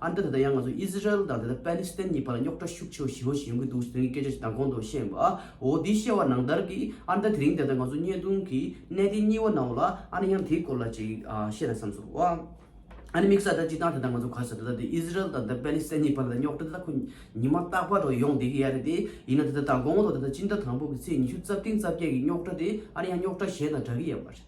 ཨ་མདོ་དེ་དང་ཡང་ང་ཚོ་ཨིསི་རཱཨེལ་དང་དེ་དང་པཱེ་ལི་སི་ཐན་གཉིས་བར་ལ་རྙོག་དྲ་ཤུགས་ཆེ་བ་ཞིག་ཡོང་བཞིན་ཡོང་གི་འདུག་ཟེར་མཁན་གྱི་སྐད་ཆ་ཞིག་མདང་དགོང་དུ་བཤད་འོ་དེའི་བཤད་བ་ནང་ལྟར་གྱིས་ཨ་མདའ་དེ་རིང་དེ་དང་ང་ཚོ་བརྙས་བརྡུང་གི་གནད་དེ་གཉིས་བ་ན་འོ་ལ་ཨ་ནི་ཡང་དེའི་སྐོར་ལ་ཅིག་བཤད་ན་བསམས་སོ། ཨ་ནི་དམིགས་ས་དེ་ཅིག་དང་དེ་དང་ང་ཚོ་ག་ས་དེ་དག་དེ་ཨིསི་རཱཨེལ་དང་དེ་པཱེ་ལི་སི་ཐན་གཉིས་བར་ལ་དེ་རྙོག་དྲ་དེ་དག་ཁོ་ཉིན་མ་རྟག་པར་དུ་ཡོང་བསྡད་ཀྱི་ཡ་རེད་དེ་ཡིན་ན་དེ་དང་མདང་དགོང་དུ་དེ་དང་སྤྱི་ཟླ་དང་པོ་གྱི་ཚེས་ཉི་ཤུ་རྩ་བཏིང་རྩ་བརྒྱད་ཀྱི་རྙོག་དྲ་དེ་ཨ་ནི་ཡང་རྙོག་དྲ་གཞན་དང་འདྲ་གི་ཡ་མ་རེད།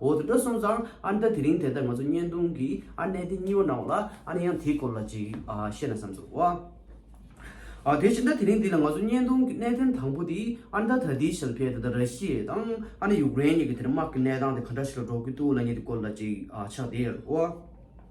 འོ་དེ་འདྲ་སོང་ཙང་ཨ་ནེ་ད་དེ་རིང་དེ་ལྟར་ང་ཚོ་བརྙན་ཐུང་གི་ཨ་ནེ་དེ་གཉིས་པ་གནང་བ་ལ་ཨ་ནེ་ཡང་དེའི་སྐོར་ལ་ཅིག་བཤད་ན་བསམ་ཚོད་ཨོ་ཨ་དེ་བཞིན་ད་དེ་རིང་འདི་ལ་ང་ཚོ་བརྙན་ཐུང་གི་གནད་དོན་དང་པོ་དེ་ཨ་ནེ་ད་ད་ལྟའི་ཞལ་ཕེ་ད་ད་ར་ཤི་ཡེ་དང་ཨ་ནེ་ཡུཀ་རེན་གཉིས་ཀྱི་དེ་དམག་གི་གནས་སྟངས་དེ་ག་འདྲ་ཞིག་ལ་འགྲོ་གི་འདུག་ལ་ཉེ་དེ་སྐོར་ལ་ཅིག་ཕྱག་དེར་ཨོ།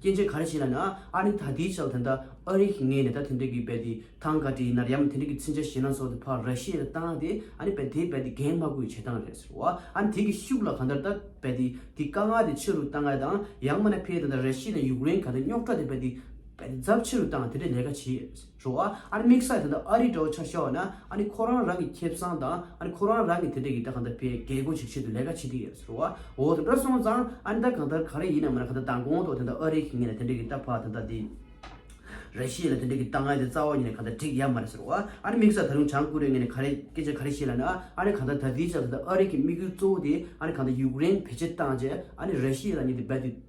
སྐྱེས་ཆེན་ག་རེ་བྱས་ན་ནི་ཨ་ནི་ད་དེའི་ཆ་ལ་དེ་འདྲ་ཨ་རིག་ངས་ནི་ད་དེ་འདྲ་གི་བལ་དེ་ཐང་ག་དྲི་ཡི་ནར་ཡམ་དེ་འདྲ་གི་ཚིན་ཆ་ཞེ་ན་སོགས་དེ་ཕ་ར་ཤི་ཡ་ད་ཏང་དེ་ཨ་ནི་བལ་དེའི་བལ་དེ་རྒན་མ་གུ་ཡི་བྱེད་སྟངས་རེད་ཟེར་བ་ཨ་ནི་དེ་གི་ཤུགས་ལ་ག་འདྲ་ད་བལ་དེ་དེ་ཀ་ང་དེ་ཕྱི་རུ་ཏང་ག་དང་ཡང་མ་ན་ཕེ་དེ་འདྲ་ར་ཤི་ཡ་དང་ཡུག་རེན་ག་དེ་རྙོག་དྲ་དེ་བལ་དེ་བལ་དེ་རྫབ་ཕྱི་རུ་ཏང་དེ་འདྲ་ལས་ཀ་བྱེད་ཡས་རེད་ཟེར། བྱུང་བ། ཨ་རི་དམིགས་བསལ་དེ་འདྲ་ཨ་རིའི་དྲ་བ་ཆ་བཞག་ན་ཨ་ནི་ཁོ་རང་རང་གི་ཁེ་བཟང་དང་ཨ་ནི་ཁོ་རང་རང་གི་དེ་འདྲ་གི་དེ་གང་འདྲ་བའི་རྒས་རྒོན་ཞིག་ཆེད་དུ་ལས་ཀ་བྱེད་ཀྱི་ཡོད་ཟེར་བ་འོ་དེ་འདྲ་སོང་ཙང་ཨ་ནི་ད་གང་ལྟར་ག་རེ་ཡིན་ནམ་མིན་ན་ག་ད་དང་གོང་ཏོག་དེ་འདྲ་ཨ་རིའི་གི་ངན་ལ་དེ་འདྲ་གི་རྟ་ཕག་དེ་འདྲ་དེ་རེ་ཤེས་ལ་དེ་འདྲ་གི་རྟ་ངན་དེ་རྩ་བ་ཉིད་ནས་ག་ད་འགྲིག་ཡ་མ་རེད་ཟེར་བ་ཨ་ནི་དམིགས་བསལ་ད་རུང་བྱང་ཀོ་རེ་ངན་ནས་ག་རེ་སྐད་ཆ་ག་རེ་བཤད་ལ་ན་ཨ་ནི་གང་ལྟར་ད་དེའི་ཆ་དེ་འདྲ་ཨ་རིའི་གི་དམིགས་ཡུལ་གཙོ་བོ་དེ་ཨ་ནི་གང་ད་ཡུཀ་རེན་བེད་སྤྱད་བཏང་རྗེས་ཨ་ནི་རེ་ཤེས་ལ་ཉིད་དེ་རྦད་དུ།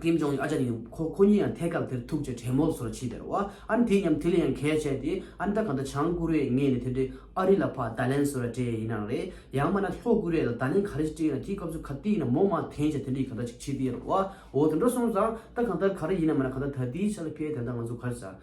ཁྱིམ་སྦྱོང་ཡིན་ཨ་ཅག་ནི་ཡང་ཁོ་ཁོ་གཉིས་ཡང་ཐད་ཀར་དེར་ཐུག་ཅེས་དྲན་མོ་སོར་ཕྱིས་དེར་བ་ཨ་ནི་དེ་སྙམ་དེ་ལ་ཡང་གས་བཅད་དེ་ཨ་ནི་ད་ག་འདྲ་བྱང་བཀུར་རེས་ངས་ནི་དེ་འདྲའི་ཨ་རི་ལ་ཕ་ད་ལན་ཟེར་བ་དྲན་ཡས་ཡིན་ནའང་རེད་ཡང་མ་ན་ལྷོ་བཀུར་རེས་ལ་ད་ལན་ག་རེ་ཞིག་དྲན་ཡོད་ན་དེའི་སྐབས་སུ་ག་དེ་ཡིན་ན་མོ་མ་དེང་ཆ་དེ་འདྲ་ཡིན་ག་འདྲ་ཅིག་ཕྱིས་དེར་བ་འོ་དེ་འདྲ་སོང་ཙང་ད་གང་ལྟར་ག་རེ་ཡིན་ན་མ་ན་ག་ད་ད་དེའི་ཆ་ལ་ཁས་དེ་ད་ང་ཚོ་གར་བྱ།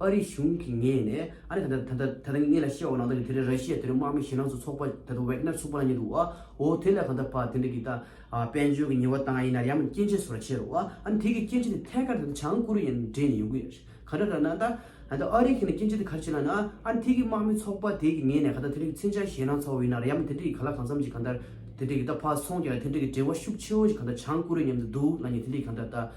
ཨ་རིའི་གཞུང་གི་ངས་ནས་ཨ་རི་དང་ད་ད་ད་ངས་ལ་བཤད་འོ་ནང་ད་ནི་དེ་རིང་ར་ཤི་ཡ་དེ་རིང་དམག་མི་ཞེ་ནང་སུ་ཚོགས་པ་ད་ད་ཝེག་ནར་ཚོགས་པ་ལ་ཉེ་འདུག་བ་འོ་དེ་ལ་གང་ད་བ་དེ་འདྲ་གི་ད་དཔལ་འབྱོར་གི་ཉེ་བ་དང་ཡིན་ནར་ཡང་མ་སྐྱེན་ཆེན་སུ་ར་ཆེར་བ་ཨ་ནི་དེ་གི་སྐྱེན་ཆེན་དེ་ཐད་ཀར་ད་ད་བྱང་ཀོ་རི་ཡ་ནི་འདྲེས་ནས་ཡོང་གི་ཡ་ཤི་ག་འདྲ་ར་ན་ད་ད་ཨ་རི་གི་ནི་སྐྱེན་ཆེན་དེ་ག་ར་ཆེ་ལ་ན་ཨ་ནི་དེ་གི་དམག་མི་ཚོགས་པ་དེ་གི་ངས་ནས་ག་ད་དེ་འདྲ་གི་ཚན་ཆང་ཞེ་ནང་ཚོགས་བ་ཡིན་ནར་ཡང་མ་དེ་འདྲ་གི་ག་ལ་གང་འཚམ་གྱི་ག་ད་དེ་འདྲ་གི་ད་བ་སོང་གི་ལ་དེ་འདྲ་གི་འབྲེལ་བ་ཤུགས་ཆེ་བོ་ཞིག་ག་ད་བྱང་ཀོ་རི་ཡ་ནི་འདུག་ལ་ཉེ་དེ་འདྲ་གི་ག་ད་ད།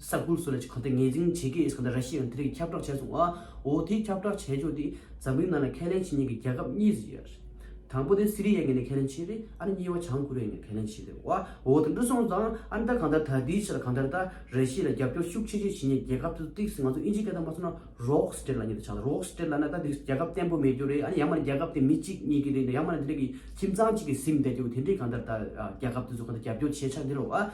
ས་ཁོངས་སུ་ལ་ཆ་གང་དུ་ངེས་འཛིན་བྱེད་ཀྱི་ཡོད་ས་གང་དུ་ར་ཤི་ཡའང་དེ་རིགས་ཁྱབ་བསྒྲགས་བྱས་སོང་བ་འོ་དེའི་ཁྱབ་བསྒྲགས་བྱས་ཕྱོགས་དེ་འཛམ་གླིང་ནང་ལ་ཁས་ལེན་བྱེད་མྱོང་གི་རྒྱལ་ཁབ་གཉིས་སུ་ཡོད་རེད་དང་པོ་དེ་སི་རི་ཡའི་ངོས་ནས་ཁས་ལེན་བྱས་རེད་ཨ་ར་གཉིས་བ་བྱང་ཀོ་རི་ཡའི་ངོས་ནས་ཁས་ལེན་བྱས་རེད་བ་འོ་དེ་འདྲ་སོང་ཙང་ཨ་ར་ད་གང་ལྟར་ད་དེའི་ཆེད་ལ་གང་ལྟར་ད་ར་ཤི་ཡ་ལ་རྒྱབ་སྐྱོར་ཤུགས་ཆེ་ཆེ་བྱེད་མྱོང་རྒྱལ་ཁབ་དེ་ཚོ་ཏིག་སི་ང་ཚོ་དབྱིན་ཇིའི་སྐད་དང་མ་ཚོར་ན་རོག་སི་ཏེར་ལ་ཉེ་དུ་ཆགས་ལ་རོག་སི་ཏེར་ལ་ན་ད་དེ་རིགས་རྒྱལ་ཁབ་བརྟན་པོ་མེད་རྒྱུ་རེད་ཨ་ནི་ཡང་མ་ནི་རྒྱལ་ཁབ་དེ་མི་གཅིག་གཉིས་ཀྱི་རེད་ཡང་མ་ནི་དེ་རིགས་ཀྱི་ཁྱིམ་ཚང་གཅིག་གི་སིམ་བསྡད་རྒྱུ་དེ་འདྲས་གང་ལྟར་ད་ར་རྒྱལ་ཁབ་དེ་ཚོ་གང་ལྟར་རྒྱབ་སྐྱོར་བྱས་ཆགས་འདི་རུ་བ།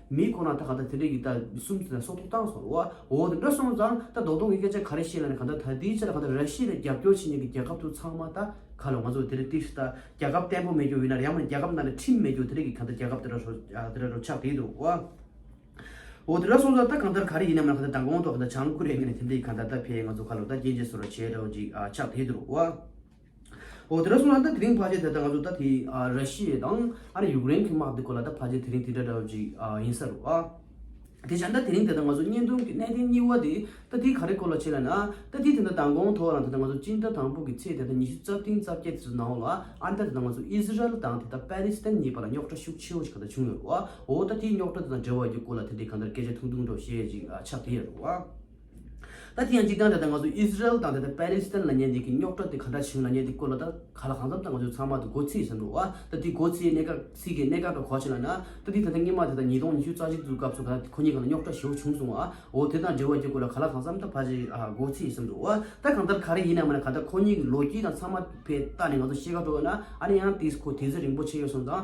མི་ཁོ་ན་ད་ག་ད་དེ་འདྲས་ཀྱི་ད་གསུམ་དེ་ད་སོག་ཐོག་བཏང་སོང་བ་འོ་དེ་འདྲ་སོང་ཙང་ད་རྡོག་རྡོག་གི་སྐད་ཆ་ག་རེ་བཤད་ན་ནི་ག་ད་ད་དེའི་ཆེད་ད་ག་ད་ར་ཤི་ལ་རྒྱབ་སྐྱོར་བྱེད་མཁན་གྱི་རྒྱལ་ཁབ་ཚོ་ཚང་མ་ད་ག་ལ་ང་ཚོ་དེ་འདྲས་ཏིག་ཤི་ད་རྒྱལ་ཁབ་བརྟན་པོ་མེད་རྒྱུ་ཡིན་ན་ཡང་མ་རྒྱལ་ཁབ་ནང་ནས་ཁྲིམས་མེད་རྒྱུ་དེ་འདྲས་ཀྱི་ག་ད་རྒྱལ་ཁབ་དེ་འདྲ་རོ་དེ་འདྲ་རོ་ཆགས་བསྡད་འདུག་བ་འོ་དེ་འདྲ་སོང་ཙང་ད་གང་ལྟར་ག་རེ་ཡིན་ནམ་ན་ག་ད་ད་གོང་དུ་ག་ད་བྱང་ཀུ་རེ་ངན་ནས་དེ་འདྲས་ཀྱི་ག་ད་ད་ཕེ་ང་ཚོ་ག་ལོ་ད་རྐྱེན་བྱས་སོང་ར་བྱས་རོ་ཅིག་ཆགས་བསྡད་འདུག་བ། འོ་དེ་འདྲ་སོང་ན་ད་དེ་རིང་ཕ་ཆེ་དེ་ད་ང་ཚོ་ད་དེ་ར་ཤི་ཡེ་དང་ཨ་རི་ཡུག་རེན་གི་དམག་དེ་སྐོར་ལ་ད་ཕ་ཆེ་དེ་རིང་དེ་འདྲ་འདྲ་བ་ཅིག་ཡིན་ས་རུ་ཨ། དེ་བཞིན་ད་དེ་རིང་དེ་ད་ང་ཚོ་གཉེན་སྟོན་གྱི་གནས་བརྟན་སྙི་བ་དེ་ད་དེ་ག་རེ་སྐོར་ལ་བྱེད་ལ་ན་ད་དེ་དེ་ད་དང་གོང་ཐོག་རང་དེ་ད་ང་ཚོ་སྤྱི་ཟླ་དང་པོ་གི་ཚེས་དེ་ད་ཉི་ཤུ་རྩ་བདུན་རྩ་བརྒྱད་དེ་ཚོ་ནང་ལ་ཨ་རི་དང་དེ་ད་ང་ཚོ་ཨི་ཟི་རལ་དང་དེ་ད་པཱེ་ལི་སི་ཐན་གཉིས་བར་ལ་རྙོག་དྲ་ཤུགས་ཆེ་བོ་ཞིག་ག་ད་བྱུང་ཡོད་རུ་ཨ་འོ་ད་དེའི་རྙོག་དྲ་དེ་དང་འབྲེལ་བ་ཡི་སྐོར་ལ་དེ་འདྲའི་ག་འདྲ་སྐད་ཆ་ཐུང་ཐུང་འདྲ་བ་ཞེ་ཅིག་ཆགས་དེ་ཡོད་རུ་ཨ། ད་དེ་ཡང་གཅིག་ཀྱང་ད་ལྟ་ང་ཚོ་ཨིས་རལ་དང་ད་ལྟ་པཱེ་ལི་སི་ཐན་ལ་ཉན་དེ་གི་རྙོག་དྲ་དེ་ག་འདྲ་བྱུང་ལ་ཉན་དེ་སྐོར་ལ་ད་ག་ལ་གང་འཚམ་ད་ང་ཚོས་ཚང་མ་ད་སྒོ་ཚིགས་ཟེར་འགྲོ་ཨ་ད་དེ་སྒོ་ཚིགས་གནད་ཀ་ཚིག་གི་གནད་ཀ་འདྲ་གོ་ཆེ་ལ་ན་ད་དེ་ད་ལྟ་སྔོན་མ་དེ་ད་ཉིས་སྟོང་ཉི་ཤུ་རྩ་གཅིག་ཚུ་སྐབས་སུ་ག་ད་ཁོ་གཉིས་ཀ་ལ་རྙོག་དྲ་ཞེའུ་བྱུང་སོང་ཨོ་དེ་དང་འབྲེལ་བ་གྱི་སྐོར་ལ་ག་ལ་གང་འཚམ་ད་ཕ་ཆེ་ཨ་སྒོ་ཚིགས་ཟེར་འགྲོ་ཨ་ད་གང་ལྟར་ག་རེ་ཡིན་ནའི་མ་ན་ག་ད་ཁོ་གཉིས་ཀྱི་ལོ་རྒྱུས་དང་ཚང་མ་བས་ལྟ་ནས་ང་ཚོ་ཤེས་ཀ་འགྲོ་ཨ་ན་ཨ་ན་ཡང་དེ་སྐོར་དེ་ཚོད་རིང་པོ་ཆེ་ཡོད་སོང་ཙང།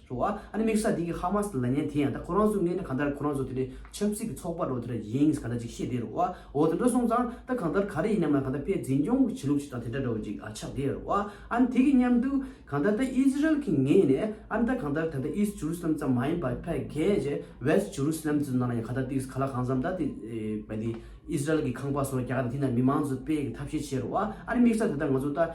ཟེར་བ། ཨ་ནི་དམིགས་བསལ་དེང་གི་ཧ་མ་སི་ལ་ཉན་དེ་ཡང་ད་ཁོ་རང་ཚོའི་མངལ་ནི་གང་ལྟར་ཁོ་རང་ཚོ་དེ་འདྲའི་ཆབ་སྲིད་ཀྱི་ཚོགས་པ་རོ་དེ་འདྲ་ཡིན་གང་འདྲ་ཅིག་ཤེས་བསྡད་རོ། འོ་དེ་འདྲ་སོང་ཙང་ད་གང་ལྟར་ག་རེ་ཡིན་ནམ་ཡང་གང་ལྟར་ཕའི་འཛིན་སྐྱོང་གི་བྱེད་ལུགས་ཅིག་དང་དེ་འདྲ་འདྲ་བོ་ཅིག་ཆགས་བསྡད་རོ། ཨ་ནི་དེ་གི་མཉམ་དུ་གང་ལྟར་ད་ཨིས་ར་ཨེལ་གྱི་ངེས་ནས་ཨ་ནི་ད་གང་ལྟར་ད་ལྟ་ཨིས་ཇུ་རུ་སི་ལམ་ཙམ་མ་ཡིན་པར་ཕའི་གྷེ་ཇེ West Jerusalem ཙི་ནང་ལ་ཡང་གང་ལྟར་དེ་གི་ག་ལ་གང་འཚམ་ད་དེ་བས་དེ་ཨིས་ར་ཨེལ་གྱི་ཁང་པ་སོགས་རྒྱག་གི་ད་དེ་ནང་མི་མང་ཚོ་སྤེལ་གི་ཐབས་ཤེས་བྱེད་རོ། ཨ་ནི་དམིགས་བསལ་དེ་ལྟར་ང་ཚོ་ད།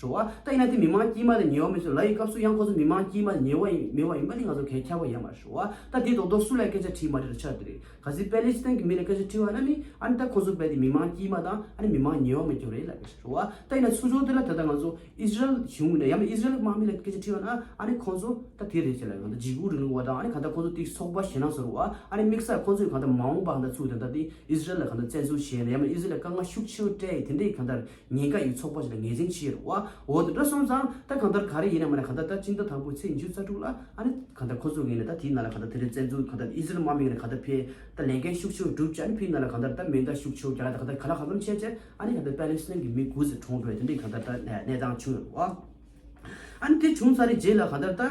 རུ་བ། ད་ཡིན་ན་དེ་མི་མང་དཀྱིལ་མ་ལས་ཉེ་བ་མིན་ཚོད་ལ་ཡི་སྐབས་སུ་ཡང་ཁོ་ཚོ་མི་མང་དཀྱིལ་མ་ལས་ཉེ་བ་ཡིན་མེད་བ་ཡིན་པ་དེ་ང་ཚོར་གས་ཁྱབ་པ་ཡལ་མ་རེད་རུ་བ། ད་དེའི་ཐོག་རྡོ་སུ་ལས་སྐད་ཆ་དྲིས་མ་དྲིས་རུ་ཆ་དེ་རེད། ག་ཟེ་པེ་ལེ་སི་ཐན་གྱི་མི་ལས་སྐད་ཆ་དྲིས་བ་ན་ནི་ཨ་ནི་ད་ཁོ་ཚོ་བལ་དེ་མི་མང་དཀྱིལ་མ་དང་ཨ་ནི་མི་མང་ཉེ་བ་མིན་རྒྱུ་རེད་ལབ་པས་རུ་བ། ད་ཡིན་ན་ཚུར་ཕྱོགས་དེ་ལ་ད་ལྟ་ང་ཚོ་ཨིས་ར་ཨེལ་གཞུང་གི་ནས་ཡང་ན་ཨིས་ར་ཨེལ་དམག་མི་ལས་སྐད་ཆ་དྲིས་བ་ན་ཨ་ནི་ཁོ་ཚོ་ད་དེ་རེད་ཅེས་ལབ་པས་གང་ལྟར་འཇིགས་སྐུལ་རིང་ལུགས་བ་དང་ཨ་ནི་གང་ལྟར་ཁོ་ཚོ་དེའི་ཚོགས་པ་ཞེ་ནང་སོ་རུ་བ། ཨ་ནི་དམིགས་བསལ་ཁོ་ཚོས་གང་ལྟར་མ་འོངས་པ་གང་ལྟར་ཚུགས་དེ་ད་དེ་ཨིས་ར་ཨེལ་ལ་གང་ལྟར་བཙན་འཛུལ་བྱས་ནས་ཡང་ན་ཨིས་ར་ཨེལ་ལ་དཀའ་ངལ་ཤུགས་ཆེན་པོ་སྤྲད་ཡིན་དེ་འདྲ་ཡིན་གང་ལྟར་ཉེན་ཁ་ཡོད་ཚོགས་པ་ཞིག་ལ་ངེས་ཅན་ཕྱི་ཡོད་བ་འོ་ད་དྲ་སོང་ཙང་ད་གང་ལྟར་ག་རེ་ཡིན་ན་མ་ནས་གང་ལྟར་ད་སྤྱི་ཟླ་དང་པོའི་ཚེས་བཅུ་རྩ་དྲུག་ལ་ཨ་ནི་གང་ལྟར་ཁོ་ཚོ་ངེས་ནས་ད་དེའི་ནང་ལ་གང་ལྟར་དེ་རིང་བཙན་འཛུལ་གང་ལྟར་ཨི་ཟི་རལ་དམག་མིང་ནས་གང་ལྟར་འཕེལ་ད་ལས་འགན་ཤུགས་ཆེ་བོ་བསྒྲུབ་ཅེས་ཨ་ནི་ཕི་ནང་ལ་གང་ལྟར་ད་མེ་མདའ་ཤུགས་ཆེ་བོ་རྒྱག་ད་གང་ལྟར་ག་ལ་གང་ལམ་ཆད་ཅེས་ཨ་ནི་གང་ལྟར་པེ་ལིན་སི་ཐན་གྱི་མི་དགུ་ཚེ་གྲོངས་བོད་དེ་འདྲའི་གང་ལྟར་ད་གནས་སྟངས་བྱུང་ཡོད་བ། ཨ་ནི་དེ་བྱུང་ཚར་རེ་རྗེས་ལ་གང་ལྟར་ད།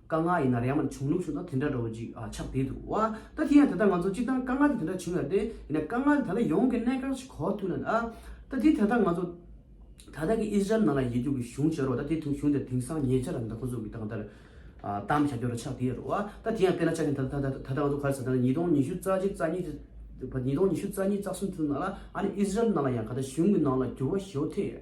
དཀའ་ངལ་ཡིན་ན་རེ་ཡང་མ་བྱུང་ལུགས་ཞུ་ན་དེ་འདྲ་འགྲོ་ཅིག་ཨ་ཆགས་བསྡད་འདུག་ཨ། ད་དེ་ཡང་དེ་ལྟར་ང་ཚོ་ཅི་ལྟར་དཀའ་ངལ་དེ་དེ་འདྲ་བྱུང་ཡ་རེད་ཡིན་ན་དཀའ་ངལ་དེ་ད་ལྟ་ཡོང་གི་གནས་གང་ཞིག་གོ་ཐུབ་ན་ཨ། ད་དེ་དེ་ལྟར་ང་ཚོ་ད་ལྟ་གི་ཨིས་ར་ཨེལ་ནང་ལ་ཡེ་རྒྱུག་གི་གཞུང་བྱེད་རོགས་ད་དེ་དུང་གཞུང་དེར་དེང་སང་ཉེ་ཆར་རམ་ད་ཁོ་ཚོ་གི་ཏང་དར་གཏམ་བྱ་རྒྱུ་ར་ཆགས་བསྡད་རོགས་ཨ། ད་དེ་ཡང་བལྟས་ན་ཆགས་ཞེན་ད་ད་ད་ད་ང་ཚོ་ག་རེ་ཟེར་ད་ཉིས་སྟོང་ཉི་ཤུ་རྩ་གཅིག་རྩ་གཉིས་ཉིས་སྟོང་ཉི་ཤུ་རྩ་གཉིས་རྩ་གསུམ་དེ་ཚོ་ནང་ལ་ཨ་ནི་ཨིས་ར་ཨེལ་ནང་ལ་ཡང་ག་ད་གཞུང་གི་ནང་ལ་འགྱུར་བ་ཞོ་ཐེ།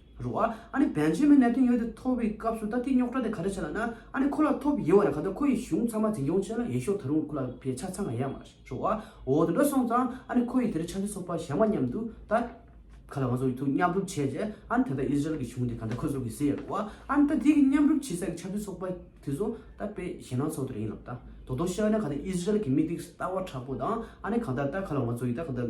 རུ་ཨ་ཨ་ནི་བན་ཆེན་མོའི་གནད་དོན་ཡོད་དེ་ཐོབ་པའི་སྐབས་སུ་ད་ལྟའི་རྙོག་དྲ་དེ་ག་འདྲ་བྱས་ལ་ན་ཨ་ནི་ཁོ་ལ་ཐོབ་ཡོད་བ་ལ་ག་ད་ཁོ་ཡི་གཞུང་ཚང་མ་འཛིན་སྐྱོང་བྱས་ལ་ཡིན་ཤོག་ད་རུང་ཁོ་ལ་བས་ཆ་ཚང་ག་ཡ་མ་རུ་ཨ་འོ་དེ་འདྲ་སོང་ཙང་ཨ་ནི་ཁོ་ཡི་དེ་འདྲ་ཆ་ཤས་སོག་པ་བཞག་མ་སྙམ་དུ་ད་ག་ལ་ང་ཚོ་ཡི་ཐུག་མཉམ་རུབ་བྱས་རྗེས་ཨ་ནི་ད་ད་ཨིས་ར་ཨེལ་གྱི་གཞུང་དེ་ག་འདྲ་ཁོ་ཚོར་གི་ཟེར་རུ་ཨ་ཨ་ནི་ད་དེ་གི་མཉམ་རུབ་བྱེད་ས་གི་ཆ་ཤས་སོག་པ་དེ་ཚོ་ད་བས་གཞན་ནང་ཚོགས་དེ་ར་ཡིན་ལབ་ད་དོ་དོ་ཤ་ན་ག་ད་ཨིས་ར་ཨེལ་གི་མི་དེ་གི་ལྟ་བ་དྲག་པོ་དང་ཨ་ནི་གང་ལྟར་ད་ག་ལ་ང་ཚོ་ཡི་ད་ག་ད།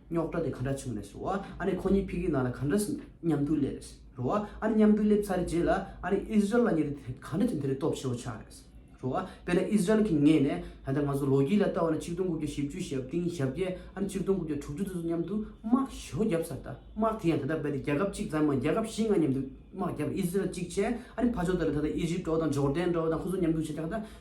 རྙོག་དྲ་དེ་ག་འདྲ་བྱུང་རེད་ཟེར་བ། ཨ་ནི་ཁོ་གཉིས་ཕི་གིའི་ནང་ལ་ག་འདྲ་མཉམ་དུ་སླེབས་རེད་ཟེར་བ། ཨ་ནི་མཉམ་དུ་སླེབས་ཚར་རྗེས་ལ་ཨ་ནི་ཨི་ཟི་རལ་ལ་ཉེ་དུས་དེ་ག་འདྲ་བྱུང་དེ་རིགས་རྟོག་ཞིབ་བྱ་རེད་ཟེར་བ། དཔེར་ན་ཨི་ཟི་རལ་གྱི་ངོས་ནས་ད་ལྟ་ང་ཚོ་ལོ་རྒྱུས་ལ་ལྟ་བ་ན་གཅིག་སྟོང་དགུ་བརྒྱ་བཞི་བཅུའི་ཞབས་བཏིང་ཞབས་བརྒྱད་ཨ་ནི་གཅིག་སྟོང་དགུ་བརྒྱ་དྲུག་ཅུ་དེ་ཚོ་མཉམ་དུ་དམག་ཞོ་བརྒྱབ་ས་ད་དམག་དེ་ཡང་ད་ལྟ་རྦད་དེ་རྒྱལ་ཁབ་གཅིག་ཙམ་མ་རྒྱལ་ཁབ་བཞི་ལྔ་མཉམ་དུ་དམག་བརྒྱབ་ཨི་ཟི་རལ་གཅིག་བྱས་ཨ་ནི་ཕ་ཇོ་ད་ལ་ད་ལྟ་ཨི་ཇིབ་ཀྲོ་དང་ཇོར་དན་ཀྲོ་དང་ཁོ་ཚོ་མཉམ་དུ་བྱས་ད་ལྟ་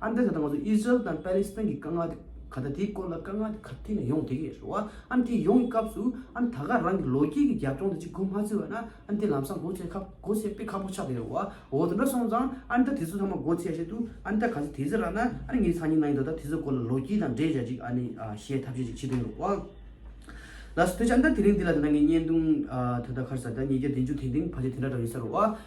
ཨ་མདོས་ད་ལྟ་ང་ཚོ་ཨི་ཟི་རལ་དང་པཱ་ལི་སི་ཐན་གྱི་དཀའ་ངལ་དེ་ག་ད་དེའི་སྐོར་ལ་དཀའ་ངལ་དེ་ག་དུས་ནས་ཡོང་དེ་གས་རེད་བ་ཨ་དེ་ཡོང་གི་སྐབས་སུ་ཨ་ད་ག་རང་གི་ལོ་རྒྱུས་ཀྱི་རྒྱབ་ལྗོངས་དེ་གཅིག་གོ་མ་ཚུད་བ་ན་ཨ་དེ་ལམ་སང་སྒོ་ཕྱེ་ཁ་སྒོ་ཕྱེ་དཔེ་ཁ་པོ་ཆགས་དེ་རེད་བ་འོ་དེ་འདྲ་སོང་ཙང་ཨ་ད་དེ་ཚོ་ཚང་མ་སྒོ་ཕྱེ་བཤད་དུས་ཨ་ད་ག་ཚོད་དེ་ཚོད་རག་ན་ཨ་ངའི་སང་ཉིན་གནང་གི་འདུག་ད་དེ་ཚོའི་སྐོར་ལ་ལོ་རྒྱུས་དང་འབྲེལ་བྱ་ཅིག་ཨ་ནི་བཤད་ཐབས་བྱེད་ཅིག་བྱེད་དེ་རེད་བ། ལ་སོ་དེ་ཕྱིར་ཨ་ད་དེ་རིང་འདི་ལ་དེ་འདྲ་ངའི་བརྙན་ཐུང་ད་ད་ཁར་ཟ་ད་ཉིས་བརྒྱ་བདུན་ཅུ་དེ་འདིང་བར་ཆད་དེ་འདྲ་འདྲ་ཡོད་ས་རེད་བ།